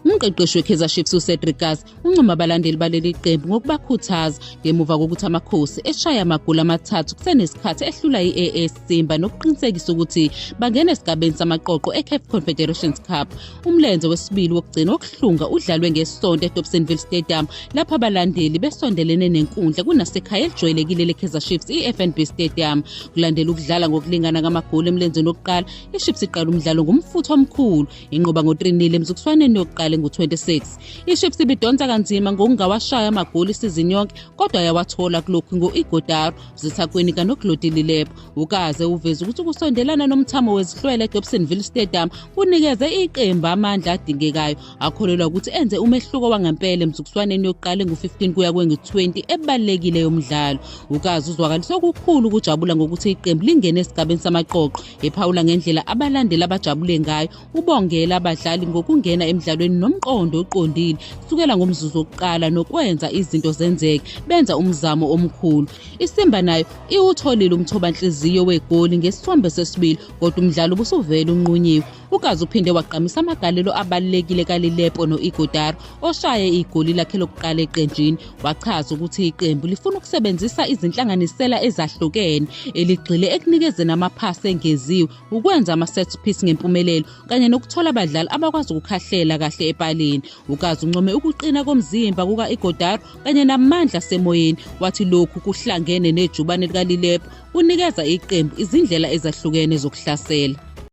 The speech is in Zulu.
Umqeqeshi weKaizer Chiefs uCedric Kass uncoma abalandeli baleli qembu ngokubakhuthaza ngemuva kokuthi amakhosi eshaya amagoli amathathu kusenesikhathi ehlula i-AS Simba nokuqinisekisa ukuthi bangena esigabeni samaqoqo eCaf Confederations Cup Umlenze wesibili wokugcina wokuhlunga udlalwe ngesonto eDobsonville Stadium lapho abalandeli besondelene nenkundla kunasekhaya elijwayelekile leKaizer Chiefs iFNB Stadium. Kulandela ukudlala ngokulingana ngamagoli emlenzeni wokuqala, iChiefs iqala umdlalo ngomfutho omkhulu, inqoba ngo-3-0 emzukuswaneni yokuqala engu-26. IChiefs ibidonsa kanzima ngokungawashaya amagoli isizini yonke kodwa yawathola kulokhu ngo-Igodaro, Zithakweni kanokulodililebo. ukaze uveze ukuthi ukusondelana nomthamo wezihlwele edobsonville stadium kunikeze iqembu amandla adingekayo akholelwa ukuthi enze umehluko wangempela emzukiswaneni yokuqala engu-15 kuya kwengu-20 ebalulekile yomdlalo ukaze uzwakalise okukhulu ukujabula ngokuthi iqembu lingene esigabeni samaqoqo ephawula ngendlela abalandeli abajabule ngayo ubongela abadlali ngokungena emdlalweni nomqondo oqondile kusukela ngomzuzu wokuqala nokwenza izinto zenzeke benza umzamo omkhulu isimba nayo iwutholile umthobanhliziyo wegoli ngesithombe sesibili kodwa umdlalo ubusuvele unqunyiwe ukazi uphinde wagqamisa amagalelo abalulekile kalilepo no-igodaro oshaye igoli lakhe lokuqala eqenjini wachaza ukuthi iqembu lifuna ukusebenzisa izinhlanganisela ezahlukene eligxile ekunikezeni amaphasi engeziwe ukwenza ama-set piece ngempumelelo kanye nokuthola abadlali abakwazi ukukhahlela kahle epalini UKazi uncome ukuqina komzimba kuka-Igodaro kanye namandla asemoyeni wathi lokhu kuhlangene nejubane likaLilepo kunikeza iqembu izindlela ezahlukene zokuhlasela.